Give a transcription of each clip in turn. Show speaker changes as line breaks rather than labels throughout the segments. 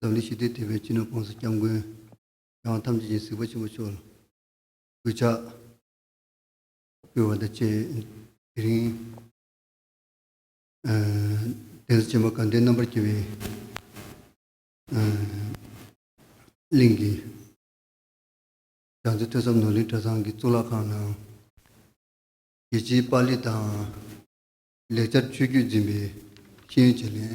ལྡང་ལི་ཞི་བདེ་དེ་བས་ཅི་ནུས་དཔང་སོ་སྐྱབས་མགོན། ཡང་ཐམས་ཅད་ཀྱིས་གཟིགས་པ་ཆེན་པོ་ཆོས་ལ་གུས་ཕྱག། སྤེལ་བ་དང་བཅས་དེ་རིང། གདན་ས་ཆེན་པོ་དགའ་ལྡན་རྣམ་པར་རྒྱལ་བའི་གླིང་གི་རྒྱ་མཚོ་ཐོས་བསམ་ནོར་གླིང་གྲྭ་ཚང་གི་གཙུག་ལག་ཁང་ནང། རྒྱལ་སྤྱིའི་པཱ་ལི་དང། ལེགས་སྦྱར་ཆོས་བརྒྱུད་འཛིན་པའི་ཤེས་ཡོན་བྱེད་ལས།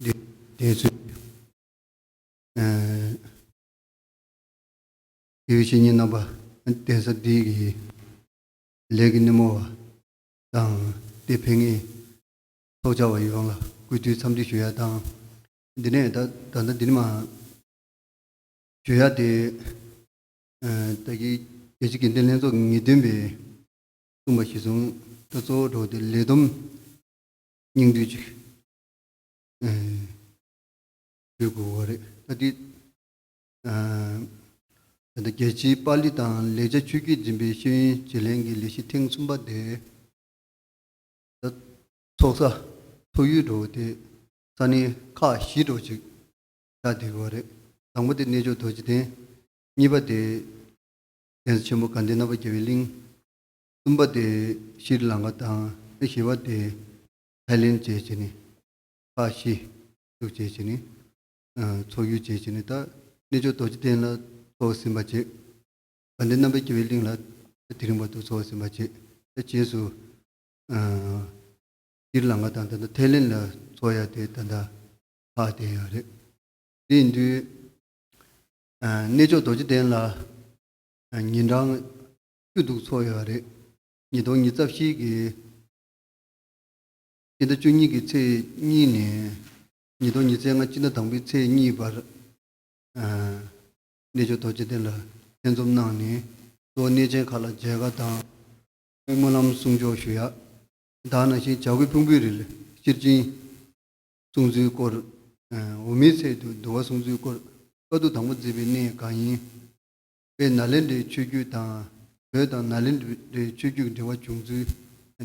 འདས་ཚོས་ཀྱི། བྱེད་ཉིད་རྣམ་པ་གདན་ས་འདི་ཡི། ལས་ཀྱི་སྣེ་མོ་བ་དང་སྟེ་ཕན་ངེས། ཚོགས་བཅར་བ་ཡོངས་ལ་གུས་བཏུད་འཚམས་འདྲི་ཞུ་ཡ་དང། འདི་ནས་ད་ལྟ་འདི་ནི་མ། ཞུ་ཡ་སྟེ། ད་གིན་རྒྱལ་སྤྱི་དགེ་ལྡན་ལྷན་ཚོགས་ངེས་སྟོན་པས་གསུངས་པ་གཞི་བཟུང་ད་གཙོ་བོ་འགྲོ་བ་སྟེ་ལས་བསྡོམས། སྙིང་བསྡུས་ཀྱི་དུས་དགོས་བ་རེད་ད་དེ། ད་ལྟ་རྒྱལ་སྤྱིའི་པཱ་ལི་དང་ལེགས་ཆ་ཆོས་རྒྱུད་འཛིན་པའི་ཤེས་ཡོན་བརྗེ་ལེན་གྱི་ལས་གཞི་ཐེངས་གསུམ་པ་དེ། ཚོགས་ས་ཚོགས་ཡུལ་འགྲོ་བ་དེ་ས་གནས་ཁག་བཞི་འགྲོ་གཅིག་བྱ་བསྡད་བ་རེད་དང་པོ་དེ་གནས་མཆོག་རྡོ་རྗེ་གདན། གཉིས་པ་དེ། གདན་ས་ཆེན་མོ་དགའ་ལྡན་རྣམ་པ་རྒྱལ་བའི་གླིང། གསུམ་པ་དེ་ཤྲཱི་ལངྐ་དང་ཨེ་ཤི་བ་སྟེ་ཐའི་ལེན་བཅས་བྱས་ནས་ཧྥ་ཤི་ཤུག་བཅས་བྱས་ནས་འཚོགས་ཡུལ་བཅས་བྱས་ནས་ད་གནས་ཆོས་རྡོ་རྗེ་གདན་ལ་འཚོགས་ཟིན་པ་བཅས་དགའ་ལྡན་རྣམ་པའི་སྐྱེ་བའི་གླིང་ལ་དེ་རིང་བར་དུ་འཚོགས་ཟིན་པ་བཅས་ད་རྗེས་སུ་ཤྲཱི་ལངྐ་དང་ད་ལྟ་ཐའི་ལེན་ལ་འཚོགས་ཡ་དེ་ད་ལྟ་ཧཧ་དེ་ཡང་རེད། དེ་ཡིན་དུས་གནས་ཆོས་རྡོ་རྗེ་གདན་ལ་ཉིན་གྲངས་སྐྱོ་སྡུག་ཚོར་ཡོད་པ་རེད། ཉིས་སྟོང་ཉིས་རྩ་བཞི་གི་སྤྱི་ཟླ་བཅུ་གཉིས་ཀྱི་ཚེས་གཉིས་ནས་ཉིས་སྟོང་ཉིས་ཚེས་ལྔ་སྤྱི་ཟླ་དང་པོའི་ཚེས་གཉིས་བར། གནས་མཆོག་རྡོ་རྗེ་གདན་ལ་ལྷན་འཛོམས་གནང་ནས་གཙོ་བོ་གནས་ཆེན་ཁག་ལ་མཇལ་ཁ་དང། སྨོན་ལམ་གསུང་ཆོག་ཞུ་ཡག་གདའ་ན་ཤིང་བྱ་རྒོད་ཕུང་པོའི་རིལ་ཤེར་སྦྱིན་གསུངས་ཚུལ་སྐོར། འོ་མའི་ཚལ་དུ་འདུ་བ་གསུངས་ཚུལ་སྐོར་བཀའ་བསྡུ་དང་པོ་མཛད་པའི་གནས་གང་ཡིན། པའི་ནཱ་ལེནྡྲའི་ཆོས་བརྒྱུད་དང། བོད་དང་ནཱ་ལེནྡྲའི་ཆོས་བརྒྱུད་འབྲེལ་བ་བྱུང་ཚུལ།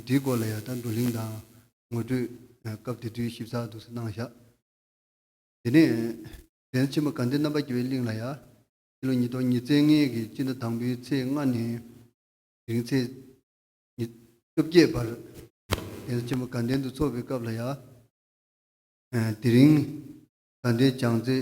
འདིའི་སྐོར་ལ་ཡང་དང་བསྡུ་གླེང་དང་ངོ་སྤྲོད། སྐབས་དེ་དུས་ཞིབ་ཚགས་སྡུག་ས་གནང་བཞག། དེ་ནས་གདན་ཆེན་པོ་གངས་ཏི་རྣམ་པར་རྒྱལ་བའི་གླིང་ལ་ཡང། ཕྱི་ལོ་ཉིས་སྟོང་ཉིས་ཚན་ལྔའི་གི་སྤྱི་ཟླ་དང་པོའི་ཚེས་ལྔ་ནས། དེང་ཚེས་ཉི། བཅོ་བརྒྱད་བར། གདན་ཆེན་པོ་དགའ་ལྡན་དུ་འཚོགས་པའི་སྐབས་ལ་ཡང། དེ་རིང། དགའ་ལྡན་བྱང་རྩེ།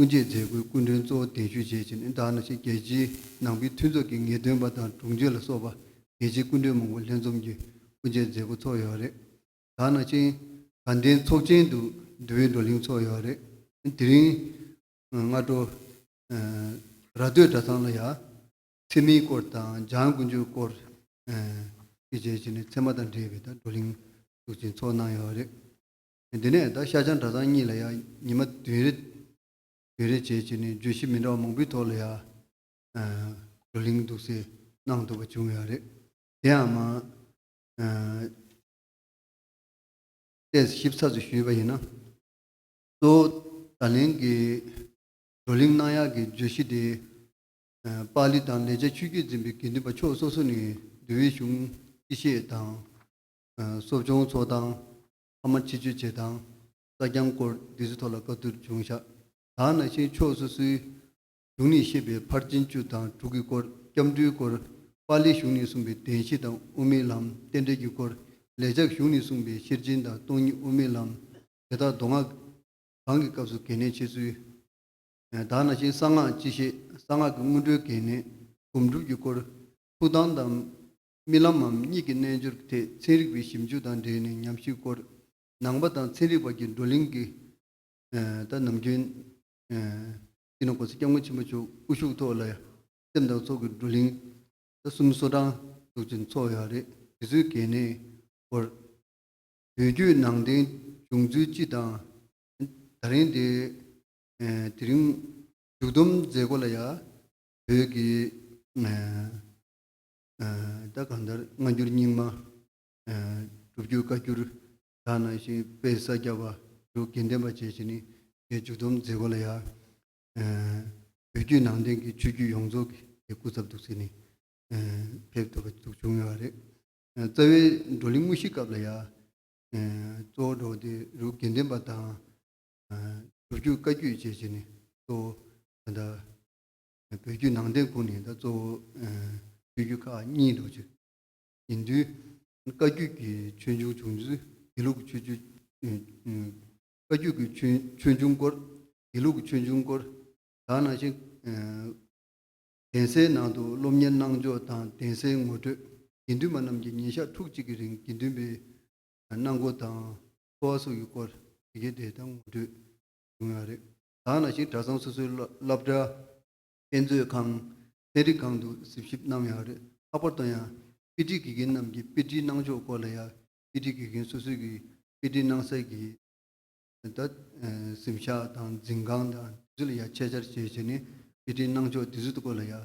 སྐུ་མཆེད་མཛད་སྒོའི་སྐུ་མགྲོན་གཙོ་བོ་གདན་ཞུ་བྱེད་ཕྱིར་ནི་དག་ནང་བཞིན་རྒྱལ་སྤྱིའི་ནང་པའི་མཐུན་ཚོགས་ཀྱི་ངེས་སྟོན་པ་དང་དྲུང་ཆེ་ལ་སོགས་པ་རྒྱལ་སྤྱིའི་སྐུ་མགྲོན་མང་པོ་ལྷན་འཛོམས་ཀྱིས་སྐུ་མཆེད་མཛད་སྒོ་ཚོགས་ཡོད་རེད། དག་ནང་བཞིན་དགའ་ལྡན་ཚོགས་ཆེན་དུ་འདུས་པའི་བགྲོ་གླེང་ཚོགས་ཡོད་རེད། དེ་རིང་སྔ་དྲོ་ར་སྟོད་གྲྭ་ཚང་ལ་ཡ། ཚེ་མིའི་སྐོར་དང་འཇང་དགུན་ཆོས་སྐོར་བཅས་བྱེད་ཕྱིར་ནི་ཚད་མ་དང་འབྲེལ་བའི་བགྲོ་གླེང་གཟུགས་ཆེན་ཚོགས་གནང་ཡོད་རེད། དེ་ནས་བདག་ཤ་ཆང་གྲ་ཚང་གཉིས་ལ་ཡང་ཉི་མ་བདུན་རེ་བདུན་རེ་བྱས་བྱས་ནས་བརྗོད་གཞི་མི་འདྲ་བ་མང་པོའི་ཐོག་ལ་ཡང་གོ་གླེང་འདུག་སེ་གནང་འདུག་པ་བྱུང་ཡང་རེད། དེ་ཡང་མ་གཏད་ཞིབ་ཚགས་སུ་ཞུས་པ་ཡིན་ན། གཙོ་བོ་ད་ལན་གྱི་བགྲོ་གླེང་གནང་ཡག་གི་བརྗོད་གཞི་དེ། པཱ་ལི་དང་ལེགས་ཆ་ཆོས་བརྒྱུད་འཛིན་པའི་དགེ་འདུན་པ་ཕྱོགས་སོ་སོ་ནས་འདུལ་བའི་གཞུང་སྤྱི་བཤད་དང། གསོ་སྦྱོང་ཚོགས་དང་ཕ་མ་ཆིག་ཆོད་བྱེད་སྟངས། རྩ་རྐྱང་སྐོར་སྡེ་ཚུལ་ཐོག་ལ་བཀའ་བསྡུར་འབྱུང་བཞག་དག་ན་ཤེས་ཕྱོགས་སོ་སོའི། གཞུང་ནས་བཤད་པའི་ཕར་ཕྱིན་བཅུ་དང་དྲུག་གི་སྐོར་སྐྱབས་འགྲོའི་སྐོར། པཱ་ལིའི་གཞུང་ནས་གསུངས་པའི་བདེན་བཞི་དང་དབུ་མའི་ལམ་རྟེན་འབྲེལ་གྱི་སྐོར། ལེགས་སྦྱར་གཞུང་ནས་གསུངས་པའི་ཤེར་ཕྱིན་དང་སྟོང་ཉིད་དབུ་མའི་ལམ། དེ་དག་མདོ་སྔགས་གང་གི་སྐབས་སུ་གལ་གནད་ཆེ་ཚུལ། དག་ན་ཤེས་གསང་སྔགས་སྤྱི་བཤད་གསང་སྔགས་ཀྱི་སྔོན་འགྲོའི་གལ་གནད། སྒོམ་སྒྲུབ་ཀྱི་སྐོར། ཐུགས་དམ་དང། རྨི་ལམ་མམ་གཉིད་ཀྱི་རྣལ་འབྱོར་གྱི་ཐད་ཚན་རིག་པའི་ཞིབ་འཇུག་དང་འབྲེལ་ནས་ཉམས་ཞིབ་སྐོར། ནང་པ་དང་ཚན་རིག་བར་གྱི་བགྲོ་གླེང་གི་ཐད་ནམ་རྒྱུན། སྐྱིད་སྣང་གོང་ས་སྐྱབས་མགོན་ཆེན་པོ་མཆོག་སྐུ་བཞུགས་ཐོག་ལ་སེམས་དང་ཚོགས་ཀྱི་བགྲོ་གླེང། ཟླ་གསུམ་གསོ་གྲངས་གྲོགས་ཀྱི་འཚོགས་ཡག་རེ་དེ་ཚོའི་གལ་གནད་སྐོར། བོད་བརྒྱུད་ནང་བསྟན་བྱུང་ཚུལ་སྤྱི་དང། ད་རིང་དེ་རིང་མཇུག་བསྡོམས་མཛད་སྒོ་ལ་ཡང་བོད་ཀྱི། ད་གང་ལྟར་སྔ་འགྱུར་རྙིང་མ། སྒྲུབ་བརྒྱུད་བཀའ་འགྱུར་དག་ནང་བཞིན་དཔལ་ས་སྐྱ་པ་དྲུག་དགེ་ལྡན་པ་བཅས་ཀྱིས་ནི་རྒྱའི་མཇུག་སྡོམ་མཛད་སྒོ་ལ་ཡང། བོད་བརྒྱུད་ནང་བསྟན་གྱི་ཆོས་བརྒྱུད་ཡོངས་རྫོགས་ཀྱི་རྒྱའི་སྐུ་ཚབ་ཏུ་གཟིགས་ནས་ཕེབས་ཐུབ་པ་ཙུག་བྱུང་ཡོད་པ་རེད། རྩ་བའི་བགྲོ་གླེང་དངོས་གཞི་སྐབས་ལ་ཡང། གཙོ་བོ་འགྲོ་བ་དེ་རུ་དགེ་ལྡན་པ་དང། སྒྲུབ་བརྒྱུད་བཀའ་བརྒྱུད་བཅས་ཀྱིས་ནི་གཙོ་བོ་ད་ལྟ། བོད་བརྒྱུད་ནང་བསྟན་ཁུངས་ནི་ད་གཙོ་བོ་ཆོས་བརྒྱུད་ཁག་གཉིས་འདུ་བྱེད་ཡིན། དུས་བཀའ་བརྒྱུད་ཀྱི་ཆོས་འབྱུང་བྱུང་ཚུལ་དགེ་ལུགས་ཀྱི་ཆོས་བཀའ་བརྒྱུད་ཀྱི་ཆོས་འབྱུང་སྐོར་དགེ་ལུགས་ཀྱི་ཆོས་འབྱུང་སྐོར་དག་ནང་བཞིན། གདན་སའི་ནང་དུ་སློབ་གཉེར་གནང་ཕྱོགས་དང་གདན་སའི་ངོ་སྤྲོད་དགེ་འདུན་པ་རྣམས་ཀྱིས་ཉིན་ཞག་ཕྲུགས་གཅིག་གི་རིང་དགེ་འདུན་པའི་གནང་སྒོ་དང་འཚོ་བ་སོགས་ཀྱི་སྐོར་ཇི་དགེ་དེ་ལྟར་ངོ་སྤྲོད་བྱུང་ཡང་རེད། གང་ལ་ཞིག་གྲྭ་ཚང་སོ་སོའི་སློབ་གྲྭ། དཔེ་མཛོད་ཁང། ཚན་རིག་ཁང་དུ་གཟིགས་ཞིབ་གནང་ཡང་རེད་ལྷག་པར་དུ་ཡང་དཔེ་ཁྲིད་དགེ་རྒན་རྣམས་ཀྱི་དཔེ་ཁྲིད་གནང་ཕྱོགས་སྐོར་ལ་ཡང་དཔེ་ཁྲིད་དགེ་རྒན་སོ་སོའི་གིས་དཔེ་ཁྲིད་གནང་སའི་གི་ད་གཟིམ་ཤག་དང་འཛིན་ཁང་དང་དེ་ཚོ་ལ་ཡང་ཆེད་བཅར་བྱས་བྱས་ནས་དཔེ་ཁྲིད་གནང་ཕྱོགས་དེ་ཚོའི་སྐོར་ལ་ཡང་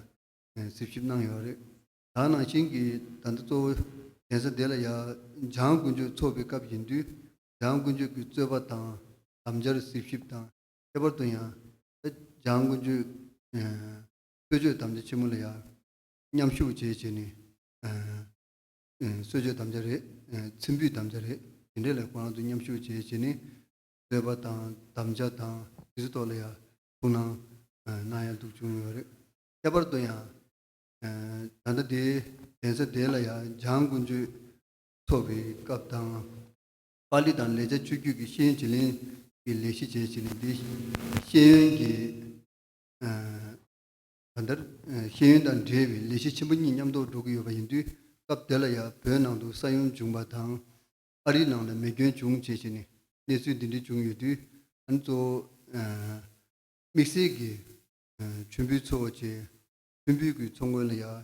གཟིགས་ཞིབ་གནང་ཡོད་རེད་ད་ནང་བཞིན་གྱི་ད་ལྟ་གཙོ་བོ་གདན་ས་འདི་ལ་ཡང་འཇང་དགུན་ཆོས་ཚོགས་པའི་སྐབས་ཡིན་དུས་འཇང་དགུན་ཆོས་ཀྱི་རྩོད་པ་དང་དམ་བཅར་གཟིགས་ཞིབ་དང་ཁྱད་པར་དུ་ཡང། འཇང་དགུན་ཆོས་རྩོད་གཅོད་དམ་བཅའ་ཆེན་མོ་ལ་ཡང་མཉམ་ཞུགས་བྱེད་ཅེས་ནི། གསོད་གཅོད་དམ་བཅའ་རེད། ཚིམ་འབུད་དམ་བཅའ་རེད། དེ་འདྲའི་ལས་ཁོ་རང་ཚོ་མཉམ་ཞུགས་བྱེད་ཅེས་ནི། རྩོད་པ་དང་དམ་བཅའ་དང་དེ་ཚོའི་ཐོག་ལ་ཡང་ཐུགས་སྣང་གནང་ཡ་འདུག་བྱུང་ཡོད་རེད། ཁྱད་པར་དུ་ཡང། ད་ལྟ་འདིའི་གདན་ས་དེ་ལ་ཡང་འཇང་དགུན་ཆོས་འཚོགས་པའི་སྐབས་དང། པཱ་ལི་དང་ལེགས་ཆ་ཆོས་བརྒྱུད་ཀྱི་ཤེས་ཡོན་བྱེད་གླིང་གི་ལས་གཞི་བཅས་བྱས་ནས་དེ་བཞིན་ཤེས་ཡོན་གྱི་ད་ལྟར་ཤེས་ཡོན་དང་འབྲེལ་བའི་ལས་གཞི་ཆེན་པོ་གཉིས་མཉམ་ཐོག་འགྲོ་གི་ཡོད་པ་ཡིན་དུས་སྐབས་དེ་ལ་ཡང་བོད་ནང་དུ་ས་ཡོམ་བྱུང་བ་དང། ཨ་རིའི་ནང་ལ་མེ་སྐྱོན་བྱུང་བཅས་བྱས་ནས་གནས་ཚུལ་འདི་འདྲའི་བྱུང་ཡོད་དུས་ད་ནི་གཙོ་བོ་དམིགས་བསལ་གྱིས་མཆོད་འབུལ་འཚོལ་བ་བཅས་མཐུན་འབུལ་གྱི་ཚོགས་མགོན་ལ་ཡང་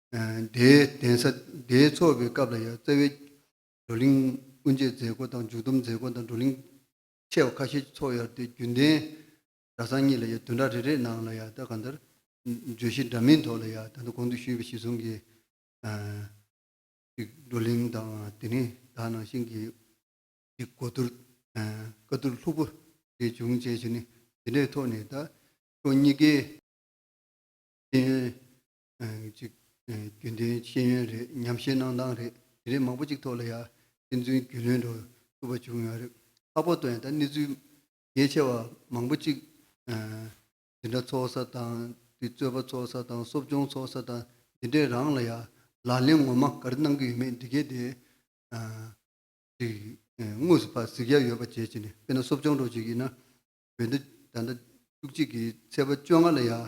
དེའི་གདན་ས་དེའི་ཚོགས་པའི་སྐབས་ལ་ཡང་རྩ་བའི་བགྲོ་གླེང་དབུ་འབྱེད་མཛད་སྒོ་དང་མཇུག་སྡོམ་མཛད་སྒོ་དང་བགྲོ་གླེང་ཆེ་བ་ཁ་ཤས་ཀྱི་ཚོགས་ཡར་ཏེ་རྒྱུན་ལྡན་གྲྭ་ཚང་གཉིས་ལ་ཡང་བདུན་ཕྲག་རེ་རེའི་ནང་ལ་ཡང་ད་ག་འདིར་བརྗོད་གཞི་འདྲ་མིན་ཐོག་ལ་ཡང་ད་ལྟ་གོང་དུ་ཞུས་པའི་གཞི་བཟུང་གི་བགྲོ་གླེང་དང་དེ་རིང་དག་ནང་བཞིན་གྱི་གོ་བསྡུར་བཀའ་བསྡུར་ལྷུག་པོ་རེ་འབྱུང་བཅས་བྱས་ནས་དེ་འདྲའི་ཐོག་ནས་ད་ཕྱོགས་གཉིས་ཀའི་ཤེས་ཡོན་གཅིག། རྒྱུན་ལྡན་ཤེས་ཡོན་རེད་ཉམས་བཞེས་གནང་སྟངས་རེད་དེ་རིང་མང་པོ་གཅིག་ཐོག་ལ་ཡང་ཕན་ཚུན་རྒྱུས་ལོན་འགྲོ་ཐུབ་པ་བྱུང་ཡོད་རེད་ཁ་ཕོ་དོན་དང་གནས་ཚུལ་གལ་ཆེ་བ་མང་པོ་གཅིག་འདི་འདྲ་ཚོགས་ས་དང་དེ་རྩོད་པ་ཚོགས་ས་དང་གསོབ་སྦྱོང་ཚོགས་ས་དང་འདི་འདྲས་རང་ལ་ཡང་ལག་ལེན་ངོ་མ་ག་རེ་གནང་གི་ཡོད་མེད་འདི་གལ་ཏེ། དངོས་སུ་ཕར་གཟིགས་ཡ་ཡོད་པ་བྱེད་ཅིག་ནས་དཔེར་ན་གསོབ་སྦྱོང་འགྲོ་ཅིག་ཡིན་ན་བོད་ཟླ་ཟླ་བཅུ་གཅིག་གི་ཚེས་པ་བཅོ་ལྔ་ལ་ཡང་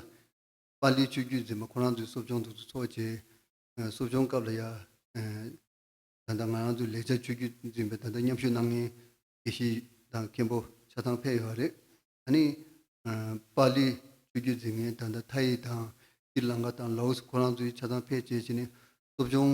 པཱ་ལིའི་ཆོས་བརྒྱུད་འཛིན་པ་ཁོ་རང་ཚོའི་གསོ་སྦྱོང་ཐུགས་སུ་ཚོགས་རྗེས། གསོ་སྦྱོང་སྐབས་ལ་ཡང། ད་ལྟ་ང་རང་ཚོའི་ལེགས་སྦྱར་ཆོས་བརྒྱུད་འཛིན་པའི་ད་ལྟ་མཉམ་ཞུགས་གནང་མཁན་དགེ་བཤེས་དང་མཁན་པོ་ཆ་ཚང་ཕེབས་ཡོད་པ་རེད། ད་ནི། པཱ་ལིའི་ཆོས་བརྒྱུད་འཛིན་མཁན་ད་ལྟ་ཐ་ཡི་དང་ཤྲི་ལངྐ་དང་ལའོ་སི་ཁོ་རང་ཚོའི་ཆ་ཚང་ཕེབས་རྗེས་ཕྱི་ནས་གསོ་སྦྱོང་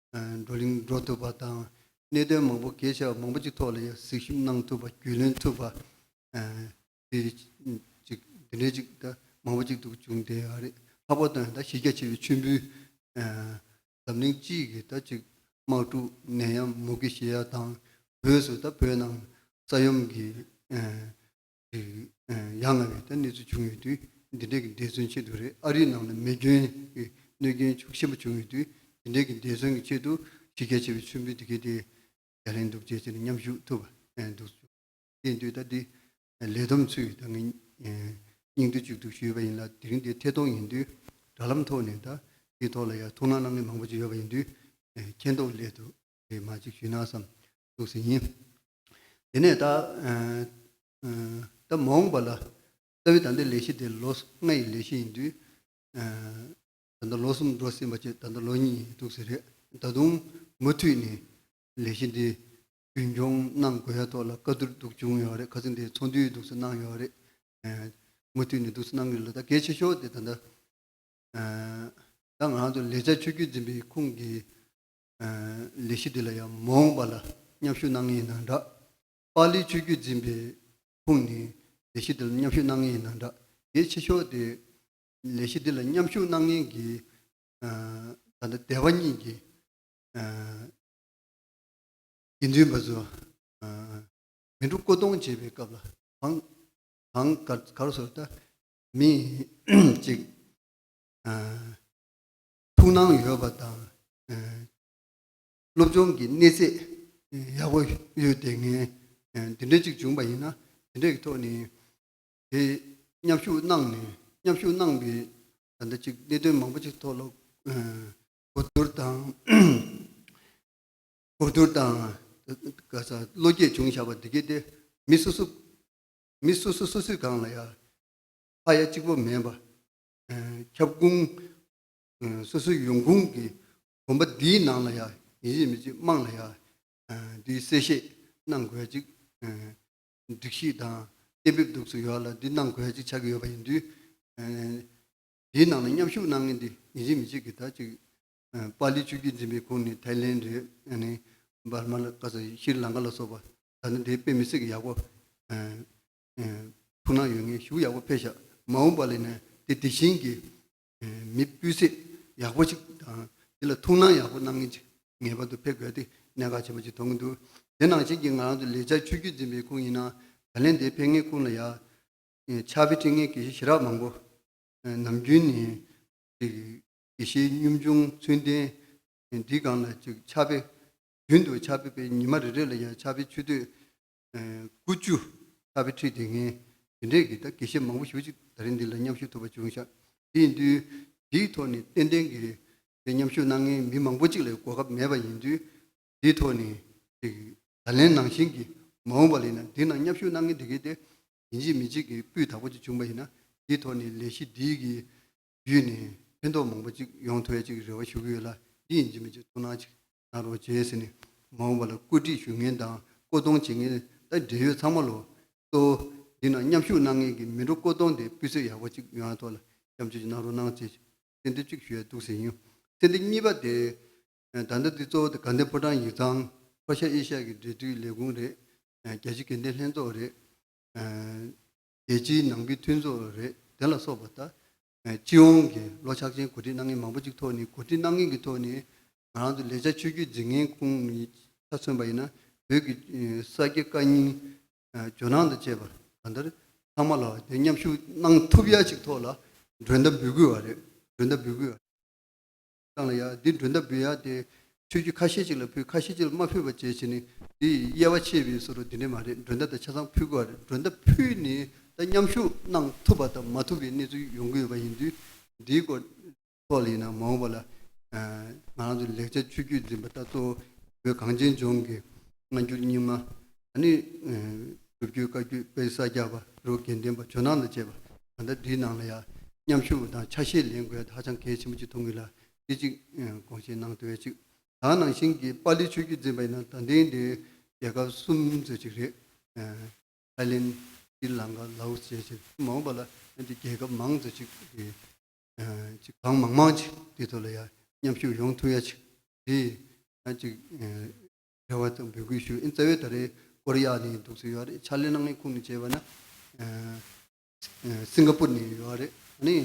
བགྲོ་གླེང་འགྲོ་ཐུབ་པ་དང་གནད་དོན་མང་པོ་གལ་ཆེ་བ་མང་པོ་ཅིག་ཐོག་ལ་གཟིགས་ཞིབ་གནང་ཐུབ་པ་རྒྱུས་ལོན་ཐུབ་པ། འདི་འདྲའི་ཅིག་ད་མང་པོ་ཅིག་འདུག་བྱུང་དེ་ཨ་རི་ལྷག་པར་དུ་ད་གཞི་རྒྱ་ཆེ་བའི་མཆོད་འབུལ་འཛམ་གླིང་སྤྱི་གི་ད་ཅིག་དམག་འཁྲུག་ནད་ཡམས་མུ་གེ་བཞི་ཡ་དང་བོས་སུ་ད་བོད་ནང་ས་ཡོམ་གྱི་ཡང་ལ་བའི་ད་གནས་ཚུལ་བྱུང་ཡོད་དུས་འདི་འདྲས་ཀྱི་འདས་མཚོན་ཆེད་དུ་རེད་ཨ་རིའི་ནང་ལ་མེ་སྐྱོན་གྱི་གནོད་སྐྱོན་ཅུང་ཞིབ་པོ་བྱུང་ཡོད་དུས་འདི་འདྲས་ཀྱི་འདས་མཚོན་གྱི་ཆེད་དུ་གཞི་རྒྱ་ཆེ་བའི་མཆོད་འབུལ་འདི་གའི་དེ་ཡ་ལེན་འདུག་ཅེས་བྱས་ནས་མཉམ་བཞུགས་ཐུབ་པ་འདུག་བྱུང་དེ་དུས་ད་འདི་ལས་བསྡོམས་ཚུད་ད་ངས་སྙིང་བསྡུས་གཅིག་ཏུ་ཞུས་པ་ཡིན་ལ་དེ་རིང་འདི་ཐད་གཏོང་ཡིན་དུས་དྲ་ལམ་ཐོག་ནས་ད་འདིའི་ཐོག་ལ་ཡང་ཐུགས་སྣང་གནང་མཁན་མང་པོ་ཅིག་ཡོད་པ་ཡིན་དུས་མཁྱེན་རྟོགས་སླད་དུ་རེ་སྨ་ཅིག་ཞུས་ན་བསམ་ཐུགས་ཟིན་ཡིན། དེ་ནས་ད། ད་མ་འོངས་པ་ལ། རྩ་བའི་ད་ལྟའི་ལས་གཞི་དེ་ལོ་ལྔ་ཡི་ལས་གཞི་ཡིན་དུས། ད་ལྟ་ལོ་གསུམ་འགྲོ་ཟིན་པ་བཅས་ད་ལྟ་ལོ་གཉིས་ཡིན་འདུག་ཟེར་རེད། ད་དུང་མུ་མཐུད་ནས་ལས་གཞི་འདི་རྒྱུན་སྐྱོང་གནང་དགོས་ཡ་ཐོག་ལ་བཀའ་བསྡུར་འདུག་བྱུང་ཡོད་རེད་ཁ་ཚིག་འདི་ཚོགས་འདུའི་འདུག་སེ་གནང་ཡོད་རེད། མུ་མཐུད་ནས་འདུག་སེ་གནང་གི་ལ་ད་གལ་ཆེ་ཤོས་དེ་ད་ལྟ། ད་ང་རང་ཚོ་ལས་བྱ་ཆོས་བརྒྱུད་འཛིན་པའི་ཁུངས་ཀྱི་ལས་གཞི་འདི་ལ་ཡང་མ་འོངས་པ་ལ་མཉམ་ཞུགས་གནང་ངེས་ཡིན་ན་འདྲ། པཱ་ལིའི་ཆོས་བརྒྱུད་འཛིན་པའི་ཁོངས་ནས་ལས་གཞི་འདི་ལ་མཉམ་ཞུགས་གནང་ངེས་ཡིན་ན་འདྲ། གལ་ཆེ་ཤོས་དེ། ལས་གཞི་འདི་ལ་མཉམ་ཞུགས་གནང་མཁན་གྱི་ད་ལྟ་སྡེ་བ་གཉིས་ཀྱི་དགེ་འདུན་པ་ཚོ་མི་འགྲོ་བསྐོ་གཏོང་བྱེད་པའི་སྐབས་ལ་གང་ག་གར་སོ་ལྟ་མི་གཅིག་ཐུགས་སྣང་ཡོད་པ་དང་སློབ་སྦྱོང་གི་གནས་ཚད་ཡག་པོ་ཡོད་དེ་ངས་འདི་འདྲ་གཅིག་བྱུང་པ་ཡིན་ན་དེ་འདྲ་གི་ཐོག་ནས་དེ་མཉམ་ཞུགས་གནང་ནས་མཉམ་ཞུགས་གནང་པའི་ད་ལྟ་ཅིག་གནད་དོན་མང་པོ་ཅིག་ཐོག་ལ་གོ་བསྡུར་དང་གོ་བསྡུར་དང་ག་ས་བློ་སྐྱེད་བྱུང་བཞག་པ་འདི་གའི་སྟེ་མི་སོ་སོ་མི་སོ་སོ་སོ་སོའི་སྒང་ལ་ཡ་ཕ་ཡ་གཅིག་པོ་མེད་པ་ཁྱབ་ཁུངས། སོ་སོའི་ཡོང་ཁུངས་ཀྱི་གོམ་པ་འདིའི་ནང་ལ་ཡང་ཡིན་གཅིག་མིན་གཅིག་དམངས་ལ་ཡང་འདིའི་གསལ་བཤད་གནང་དགོས་ཅིག་སྒྲིག་གཞི་དང་གཏན་འབེབས་འདུག་ཚུལ་ཡོད་ལ་འདི་གནང་དགོས་ཅིག་ཆགས་ཀྱི་ཡོད་པ་ཡིན་དུས། འདིའི་ནང་ལ་མཉམ་ཞུགས་གནང་མཁན་དེ་ཡིན་གཅིག་མིན་གཅིག་གིས་ད་ཅིག་པཱ་ལི་ཆོས་རྒྱུད་འཛིན་པའི་ཁོངས་ནས་ཐའི་ལེན་རེད་ཨནི་འབར་མ་ལ་ཀ་ས་ཤིར་ལང་ཀ་ལ་སོགས་པ་ད་ནི་དེ་དཔེ་མི་སྲིད་ཀྱི་ཡག་པོ་ཐུགས་སྣང་ཡོད་ངེས་ཞུ་ཡག་པོ་ཕེབས་ཤག་མ་འོངས་པ་ལས་ནས་དེ་དེ་བཞིན་གྱི་མི་སྤུས་ཚད་ཡག་པོ་ཞིག་དང་དེ་ལ་ཐུགས་སྣང་ཡག་པོ་གནང་མཁན་ཅིག་ངེས་པར་དུ་ཕེབས་དགོས་ཏེ་གནད་འགག་ཆེན་པོ་ཅིག་མཐོང་གི་འདུག་དེ་ནང་བཞིན་གྱི་ང་རང་ཚོ་ལས་བྱ་ཆོས་བརྒྱུད་འཛིན་པའི་ཁུངས་ཡིན་ན་ད་ལན་དེ་ཕན་ངེས་ཁུངས་ལ་ཡག་ཕྱག་དཔེ་སྤྲིངས་མཁན་དགེ་བཤེས་ཞི་རག་མང་པོ་ནམ་རྒྱུན་ནས་དགེ་བཤེས་གཉོམ་ཆུང་ཚུལ་ལྡན་འདི་གང་ལ་ཅིག་ཕྱག་དཔེ་རྒྱུན་དུ་ཕྱག་དཔེ་སྤེལ་ཉི་མ་རེ་རེ་ལ་ཡང་ཕྱག་དཔེ་ཆུ་སྟོད་དགུ་བཅུ། ལྷ་བྷེ་ཁྲིད་དེ་ངས་དེ་འདྲའི་གི་དག་གི་བཤད་མང་པོ་ཞུ་ཅིག་ད་རིང་འདི་ལ་མཉམ་ཞུགས་ཐུབ་པ་བྱུང་ཤག་དེ་ཡིན་དུས་དེའི་ཐོག་ནས་ཏན་ཏན་གི་དེ་མཉམ་ཞུགས་གནང་མཁན་མི་མང་པོ་ཅིག་ལས་གོ་སྐབས་མེད་པ་ཡིན་དུས་དེའི་ཐོག་ནས་ཅིག་ད་ལན་ནང་བཞིན་གི་མ་འོངས་པ་ལས་ན་དེ་ནང་མཉམ་ཞུགས་གནང་མཁན་དེ་གའི་དེ་ཡིན་གཅིག་མིན་གཅིག་གི་སྤུས་དག་པོ་ཅིག་བྱུང་པ་ཡིན་ན་དེའི་ཐོག་ནས་ལས་གཞི་འདིའི་གི་བརྒྱུད་ནས་ཕན་ཐོག་མང་པོ་ཅིག་ཡོང་ཐུབ་ཡ་ཅིག་རེ་བ་ཞུ་གི་ཡོད་ལ་འདི་ཡིན་གཅིག་མིན་གཅིག་ཐུགས་སྣང་ཅིག་གནང་རོགས་བྱས་ཟེར་ནས་མ་འོངས་པ་ལ་བཀོད་སྒྲིག་ཞུ་མཁན་དང་བཀོད་གཏོང་བྱེད་མཁན་དང་འབྲེལ་ཡོད་ཚང་མ་ལོ་ཏོ། འདི་ནང་མཉམ་ཞུགས་གནང་མཁན་གྱི་མི་འགྲོ་བཀོད་གཏོང་དེ་སྤུས་ཚད་ཡག་པོ་གཅིག་ཡོང་བ་ཐོག་ལ་མཉམ་སྤྱོད་ཅིག་གནང་རོགས་གནང་ཅེས་གསལ་འདེབས་གཅིག་ཞུ་ཡ་འདུག་ཟེར་ཡིན་གསལ་འདེབས་གཉིས་པ་དེ། ད་ལྟ་འདི་གཙོ་བོ་དེ་དགའ་ལྡན་ཕོ་བྲང་ཡིག་ཚང་ཕོ་ཤ་ཨེ་ཤ་གི་འབྲེལ་འདྲིས་ལས་ཁུངས་རེད། རྒྱལ་སྤྱིའི་དགེ་ལྡན་ལྷན་ཚོགས་རེད། རྒྱལ་སྤྱིའི་ནང་པའི་མཐུན་ཚོགས་རེད་དེ་ལ་སོགས་པ་དག་སྤྱི་ཡོངས་ཀྱི་ལོ་ཆགས་ཅན་གོ་སྒྲིག་གནང་མཁན་མང་པོ་གཅིག་ཐོག་ནས་གོ་སྒྲིག་གནང་མཁན་གྱི་ཐོག་ནས་ང་རང་ཚོ་ལེགས་ཆ་ཆོས་བརྒྱུད་འཛིན་མཁན་ཁོང་ནས་ཆ་མཚོན་པ་ཡིན་ན་བོད་ཀྱི་ས་དགེ་བཀའ་རྙིང། ཇོ་ནང་དང་བཅས་པ་གང་ལྟར་ཚང་མ་ལ་འདིར་མཉམ་ཞུགས་གནང་ཐུབ་ཡ་གཅིག་ཐོག་ལ་མགྲོན་བརྡ་འབུལ་དགོས་བ་རེད་མགྲོན་བརྡ་འབུལ་དགོས། བཏང་ལ་ཡ། འདི་མགྲོན་ལྟ་བུའི་ཡ་སྟེ། ཆོས་བརྒྱུད་ཁ་ཤས་ཅིག་ལ་ཕུལ་ཁ་ཤས་ཅིག་ལ་མ་ཕུལ་བ་བཅས་བྱས་ནས་འདི་ཡི་དབྱེ་བ་ཕྱེས་པས་སོ་རུ་དེ་འདྲས་མ་རེད་མགྲོན་ལྟ་དང་ཆ་ཚང་ཕུལ་དགོས་བ་རེད་མགྲོན་ལྟ་ཕུལ་ནས་ད་མཉམ་ཞུགས་གནང་ཐུབ་པ་དང་མ་ཐུབ་པའི་གནས་ཚུལ་ཡོང་གི་ཡོད་པ་ཡིན་དུས་འདིའི་སྐོར་ཐོག་ལ་ཡིན་ནམ་མ་འོངས་པ་ལ་ང་རང་ཚོ་ལེགས་ཆ་ཆོས་བརྒྱུད་འཛིན་པ་ད་གཙོ་བོའི་གངས་ཅན་ལྗོངས་ཀྱི་སྔ་འགྱུར་རྙིང་མ་ད་ནི་སྒྲུབ་བརྒྱུད་བཀའ་བརྒྱུད་དཔལ་ས་སྐྱ་པ་རུ་དགེ་འདུན་པ་ཇོ་ནང་དང་བཅས་པ་གང་དག་འདིའི་ནང་ལ་ཡང་མཉམ་ཞུགས་དང་ཆ་ཤས་ལེན་དགོས་ཧ་ཅང་གལ་ཆེན་པོ་ཅིག་མཐོང་གི་ལ་སྐད་ཅིག་དགོངས་བཞེས་གནང་དེ་བས་གཅིག་དག་ནང་བཞིན་གྱི་པཱ་ལི་ཆོས་བརྒྱུད་འཛིན་པ་ཡིན་ན་ད་ལྟའི་འདི་རྒྱལ་ཁབ་གསུམ་ཟེར་ཅིག་རེད། ཐའི་ལེན། སྲི་ལང་ཀ། ལའོ་སི་བཅས་ཆེས་མང་བ་ལ་ཡང་འདི་རྒྱལ་ཁབ་མང་ཟེར་ཅིག་རེད། ཅིག་གང་མང་མང་ཅིག་འདི་ཚོ་ལ་ཡང་མཉམ་ཞུགས་ཡོང་ཐུབ་ཡ་ཅིག་རེད་ཡང་ཅིག་རེད། རེ་བ་དང་འབོད་སྐུལ་ཞུ་ཨེ། རྩ་བའི་ད་རེས་སྐོར་གཡག་ནས་འདུག་ཚུལ་ཡོད་རེད་ཕྱག་ལས་གནང་མཁན་ཁོང་གི་བྱས་པ་ན་སིང་ག་པུར་ནས་ཡོད་རེད་ནི་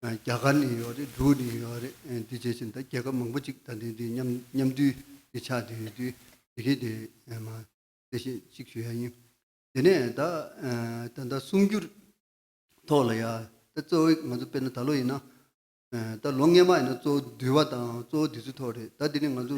རྒྱ་གར་ནས་ཡོད་རེད་འབྲུག་ནས་ཡོད་རེད་དེ་བྱས་བྱས་ད་རྒྱལ་ཁབ་མང་པོ་ཅིག་ད་འདི་འདི་མཉམ་མཉམ་འདུས་འདི་ཆགས་འདི་འདུས་དེ་གི་དེ་མ་དེ་བཤད་ཅིག་ཞུ་ཡ་ཡིན་དེ་ནས་ད་ད་ད་གསུང་རྒྱུར་ཐོག་ལ་ཡ་ད་གཙོ་བོ་ང་ཚོ་དཔེར་ན་ད་ལོ་ཡིན་ན་ད་ལོ་སྔས་མ་ཡིན་ན་གཙོ་བོ་འདུལ་བ་དང་གཙོ་བོ་འདི་ཚོའི་ཐོག་རེད་ད་འདི་ནི་ང་ཚོ་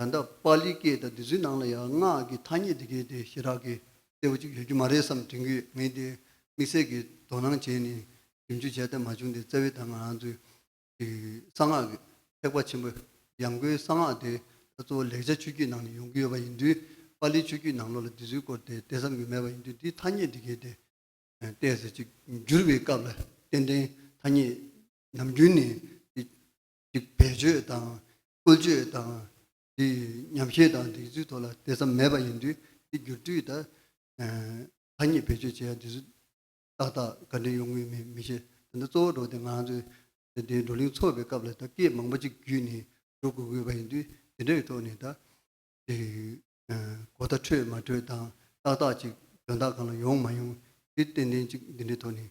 ད་ལྟ་པ་ལི་སྐད་དང་བདུད་རྩིའི་ནང་ལ་ཡང་སྔགས་ཀྱི་ཐ་སྙད་འདི་གས་དེ་ཞེ་དྲག་གི་གསལ་བོ་ཅིག་ཡོད་རྒྱུ་མ་རེད་བསམ་དྲན་གྱི་ངས་དེ་དམིགས་བསལ་གྱི་དོ་སྣང་བྱས་ནས་ཞིབ་འཇུག་བྱས་ཐབས་མ་བྱུང་སྟེ་བཙལ་བའི་དང་ང་རང་ཚོའི་གསང་སྔགས་ཀྱི་ཐེག་པ་ཆེན་པོ་ཡང་སྒོའི་གསང་སྔགས་དེ་ད་གཙོ་བོ་ལེགས་ཆ་ཆོས་བརྒྱུད་ནང་ནས་ཡོང་གི་ཡོད་པ་ཡིན་དུས་པ་ལིའི་ཆོས་བརྒྱུད་ནང་ལོགས་ལ་བདུད་རྩིའི་སྐོར་དེ་བལྟས་བསམ་གྱི་མེད་པ་ཡིན་དུས་འདིའི་ཐ་སྙད་འདི་གས་དེ། བལྟས་ཟེར་གྱི་བསྒྱུར་བའི་སྐབས་ལ་ཏན་ཏན་ཐ་སྙད་ནམ་རྒྱུན་ནས་དེ་ཀྱི་བེད་སྤྱོད་དང་བཀོལ་སྤྱོད་དང། ཉམས་བཞེས་དང་སྒྲིག་འཛུགས་ཐོག་ལ་དེ་ཙམ་མེད་པ་ཡིན་དུས་དེ་སྒྱུར་བཅོས་དང། ཐ་སྙད་བེད་སྤྱོད་བྱེད་ཡ་དེ་ཚོ་ཏག་ཏག་ག་འདྲེ་ཡོང་ངེས་མིན་མི་ཤེས། དེ་འདྲ་གཙོ་བོ་འགྲོ་དེ་ང་ཚོས་དེ་འདྲའི་བགྲོ་གླེང་ཚོགས་པའི་སྐབས་ལ་ད་སྐད་མང་པོ་གཅིག་བརྒྱུད་ནས་འགྲོ་དགོས་དགོས་པ་ཡིན་དུས་དེ་འདྲའི་ཐོག་ནས་ད། གོ་བརྡ་འཕྲོད་མ་འཕྲོད་དང་ཏག་ཏག་ཅིག་དོན་དག་གང་ལ་ཡོང་མ་ཡོང་དེ་ཏན་ཏན་ཅིག་འདི་འདྲའི་ཐོག་ནས་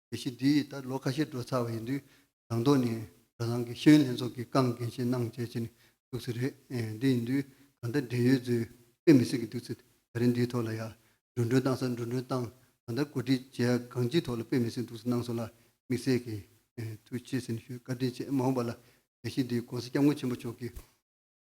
དེ་བཞིན་དུས་ཡིན་ལྟར་ལོ་ཁ་ཤས་འགྲོ་ཚར་བ་ཡིན་དུས་རང་ཐོག་ནས་རང་རང་གི་ཤེས་ཡོན་ལྷན་ཚོགས་ཀྱི་རྐང་འགན་བཞེས་གནང་བྱས་བྱས་ནས་འདུག་ཚུལ་རེད། འདི་ཡིན་དུས་གང་ལྟར་འབྲེལ་ཡོད་ཚོས་དཔེ་མི་སྲིད་ཀྱི་འདུག་ཚུལ་ད་རེས་འདིའི་ཐོག་ལ་ཡང་འགྲོ་འགྲོན་བཏང་ས་འགྲོ་འགྲོན་བཏང་གང་ལྟར་གོ་སྒྲིག་བྱས་ཡ་གང་ཅིའི་ཐོག་ལ་དཔེ་མི་སྲིད་འདུག་ཚུལ་གནང་སོང་ལ་དམིགས་བསལ་གྱིས་ཐུགས་ཆེ་ཟིན་ཞུས་བཀའ་དྲིན་ཆེ་མ་འོངས་པ་ལ་དེ་བཞིན་དུ་གོང་ས་སྐྱབས་མགོན་ཆེན་པོ་མཆོག་གིས།